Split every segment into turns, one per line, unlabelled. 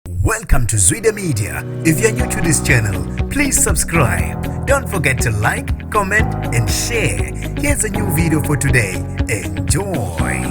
Welcome to Zwide Media. If you're new to this channel, please subscribe. Don't forget to like, comment and share. Here's a new video for today. Enjoy.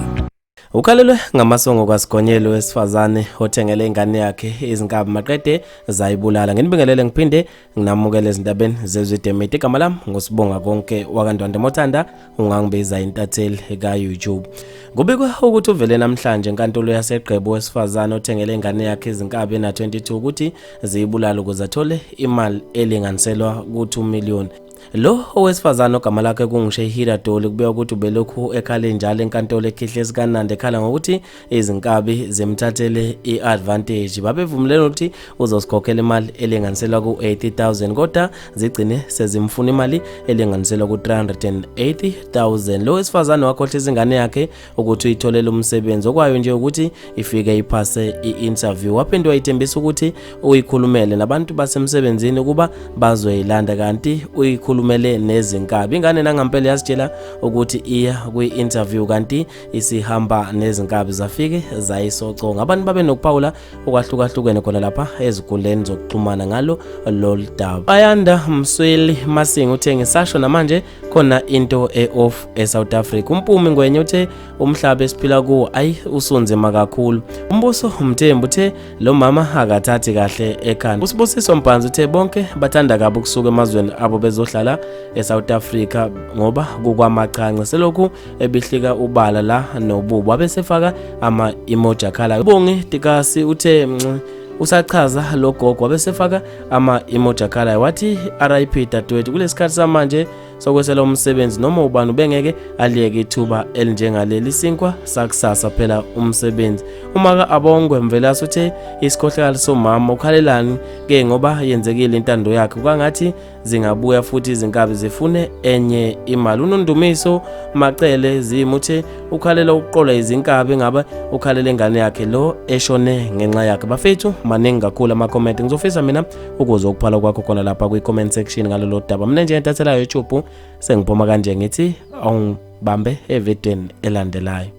Ukhalelwe ngamasongo kwasigonyelo wesifazane othengele ingane yakhe izinkabi maqede zayibulala. Nginibingelele ngiphinde nginamukela ezindabeni zezwe demeti igama lami ngusibonga konke wakandwande mothanda ungangibiza intatheli ka-youtube kubikwa ukuthi uvele namhlanje enkantolo yasegqebo wesifazane othengele ingane yakhe izinkabi ena-22 ukuthi ziyibulala ukuze athole imali elinganiselwa ku-2 million Lo owesifazane ogama lakhe kunguShehira Doli kubeka ukuthi ubelokhu ekhale njalo enkantolo ekhihle sikaNandi ekhala ngokuthi izinkabi zimthathele i-advantage. Babevumelene ukuthi uzosikhokhela imali elinganiselwa ku-80,000 kodwa zigcine sezimfuna imali elinganiselwa ku-380,000. Lo wesifazane wakhohla izingane yakhe ukuthi uyitholele umsebenzi okwayo nje ukuthi ifike iphase i-interview waphinde wayithembisa ukuthi uyikhulumele nabantu basemsebenzini ukuba bazoyilanda kanti uyikhulumele nezinkabi ingane nangampela yasitshela ukuthi iya kwi-interview kanti isihamba nezinkabi zafike zayisoconga abantu babe nokuphawula okwahlukahlukene khona lapha eziguleni zokuxhumana ngalo lolu daba ayanda msweli masinga uthe ngisasho namanje khona into e-off e-south africa umpumi ngwenye uthe umhlaba esiphila kuwo ayi usunzima kakhulu umbuso umthembu uthe lo mama akathathi kahle ekhanda usibusiso mbhanzi uthe bonke bathanda kabi ukusuka emazweni abo bezohlala e-south africa ngoba kukwamachanca selokhu ebihlika ubala la nobubo abesefaka ama-emoji akhalayo ubongi tikasi uthe mnci usachaza lo gogo wabesefaka ama-emoji akhalayo wathi rip dadewethu kulesikhathi samanje sokwesela umsebenzi noma ubani ubengeke aliyeke ithuba elinjengaleli sinkwa sakusasa phela umsebenzi uma ka abongwe mvelase uthe isikhohlakali somama ukhalelani ke ngoba yenzekile intando yakhe kwangathi zingabuya futhi izinkabi zifune enye imali unondumiso macele zimuthe ukhalela ukuqola izinkabi ngabe ukhalela ingane yakhe lo eshone ngenxa yakhe bafethu maningi kakhulu ama-comment ngizofisa mina ukuze ukuphala kwakho khona lapha kwi-comment section ngalolo daba mina nje entathela youtube sengiphuma kanje ngithi awungibambe evidweni elandelayo